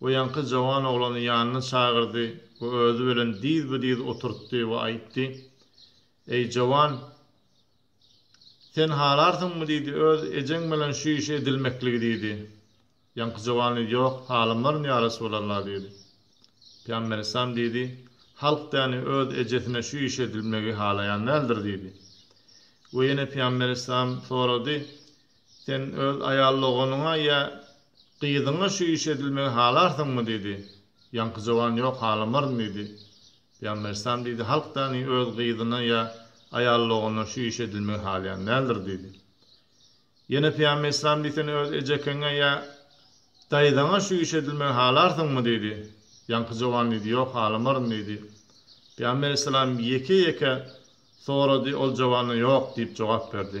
We ýaňky jawan oglany ýanyna çagyrdy we özi bilen dyz-bi-dyz oturtdy we aýtdy, Eý, jawan, sen halarsyňmy diýdi, öz ejeň bilen şu işi edilmekligi diýdi. Ýaňky jawan diýdi, Ýok, halamlaryn ýaryş bolar-la diýdi. Pygamber yslam diýdi, Halk däni öz ejesine şu işi edilmegi halaýan däldir diýdi. We ýene pygamber yslam sorady, Sen öz aýal doganyňa ýa gyzyňa şu iş edilmegi halarsyňmy? diýdi. Ýaňky jowan ýok, halamaryn diýdi. Pygamber yslam diýdi, Halk dani öz gyzyna ýa aýal doganyna şu iş edilmegi halaýan däldir diýdi. Ýene Pygamber yslam diýdi, Sen öz ejekeňe ýa daýzaňa şu iş edilmegi halarsyňmy? diýdi. Ýaňky jowan diýdi, Ýok, halamaryn diýdi. Pygamber yslam ýeke-ýeke sorady, ol jowana ýok diýip jogap berdi.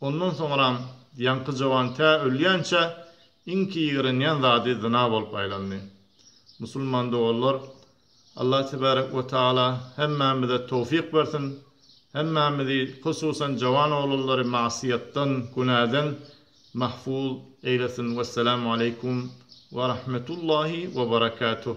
Ondan soňram ýaňky jowan tä ölýänçä iňki ýigrenýän zady zyna bolup aýlandy. Musulman doganlar, Allah tebärek we taala hemmämize towfyk bersin, hemmämizi, hususan jowan oglanlary magsyýatdan, günäden mahfuz eýlesin. Wessalam aleýkum we rahmetullahi we berekatuh.